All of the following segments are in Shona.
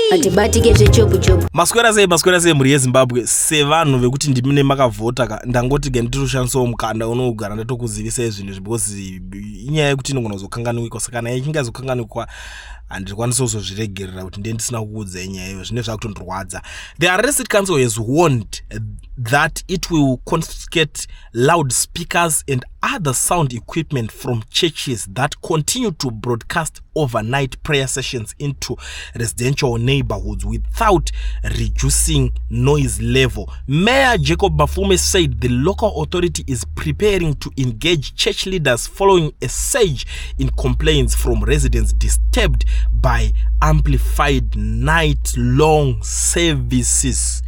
hatibatike zvechopu chopu maswera sei maswera sei mhuri yezimbabwe sevanhu vekuti ndimi nemakavhota ka ndangoti ke nditirushandisawo mukanda unogara ndatokuzivisai zvinhu izvi because inyaya yekuti inogona kuzokanganwikwa saka kana ichinge yazokanganwikwa handikwanisi kuzozviregerera kuti ndiye ndisina kuudza inyaya iyo zvine zvakutondirwadza the arrested council has warned that it will confiscate loud speakers and other sound equipment from churches that continue to broadcast overnight prayer sessions into residential neighborhoods without reducing noise level. Mayor Jacob Bafume said the local authority is preparing to engage church leaders following a surge in complaints from residents disturbed by amplified night long services.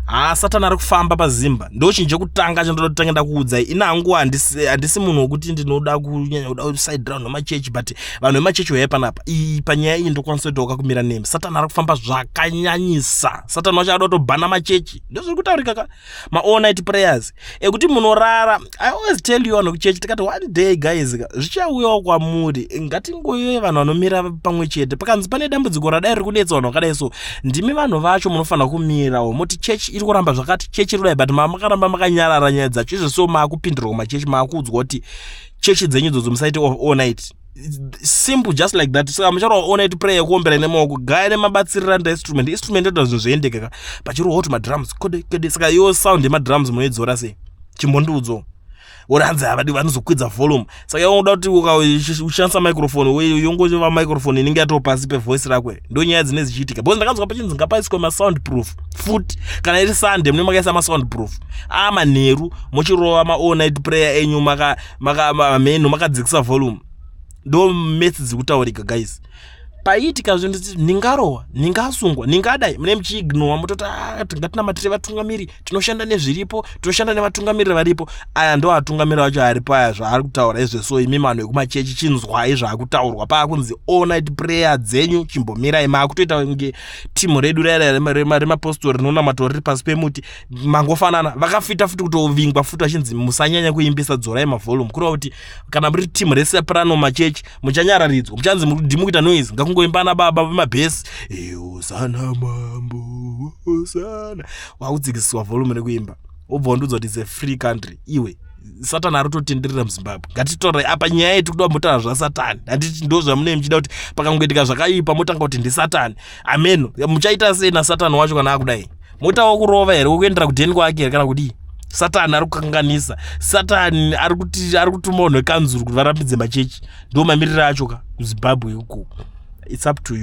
Ah, Satan ari kufamba pazimba ndo chinhu chekutanga chandoda kutanga ndakuudzai ina hangu handisi munhu wekuti ndinoda kunyanya kuda side round nemachechi but vanhu vemachechi uyai panapa iyi panyaya iyi ndokwanisa kutoka kumira nemi satani ari kufamba zvakanyanyisa satani wacho ada kutobhana machechi ndozviri kutaurika ka maall night prayers ekuti munorara i always tell you vanhu kuchechi tikati one day guys ka zvichauyawo kwamuri ngatingoyoi vanhu vanomira pamwe chete pakanzi pane dambudziko radai riri kunetsa vanhu vakadai so ndimi vanhu vacho munofanira kumirawo moti chechi iri kuramba zvakati chechi iri kudai but mamakaramba makanyarara nyaya dzacho izvo so maakupindirwa kumachechi maakuudzwa kuti chechi dzenyu dzodzo musaite all night simple just like that saka mucharo all night prayer yekuombera nemaoko gaya nemabatsirira nda instrument instrument inoita zvinhu zvoendeka ka pachirohwa kuti madrums kode kode saka yo sound yemadrums munoidzora sei chimbondiudzo woranzi havadi vanozokwidza volume saka yongoda kuti ukashandisa microphone weyo yongova microphone inenge yatoo pasi pevoice rakwe ndo nyaya dzine dzichiitika because ndakanzwa pachinzi ngapaiswe masound proof futi kana iri sunday mune makaisa masound proof aa manheru muchirova maall night prayer enyu maka maka mamenhu makadzikisa volume ndo mets dzikutaurika guys paiitika zvinhu zii ndingarohwa ndingasungwa ndingadai mune muchiignowa mototi ah, tingatinamatire vatungamiri tinoshanda nezviripo tinoshanda nevatungamiriri varipo aya ndo atungamiri vacho aripo aya zvaari kutaura izveso imi manhu ekumachechi chinzwai zvaakutaurwa paakunzi all night prayer dzenyu chimbomirai maakutoita kunge timu redu remapostori rinonamatwa riri pasi pemuti mangofanana vakafita futi kutovingwa futi vachinzi musanyanya kuimbisa dzorai mavolume kureva kuti kana muri team rese prano machechi muchanyararidzwa muchanzi mudhimi kuita noise ngakungoimba ana baba vemabhesi eosana mambo osana wakudzikisiswa volume rekuimba wobva wandiudza kuti it's a free country iwe satani ari kutotenderera muzimbabwe ngatitore apa nyaya yeti kuda motanga zvasatani handiti ndo zvamunei muchida kuti pakangoitika zvakaipa motanga kuti ndisatani ameno muchaita sei nasatani wacho kana akudai mota wakurova here wokuendera kudheni kwake here kana kudii satani ari kukanganisa satani ari kuti ari kutuma unhu wekanzuru kuti varambidze machechi ndo mamiriro acho ka kuzimbabwe uko its up to you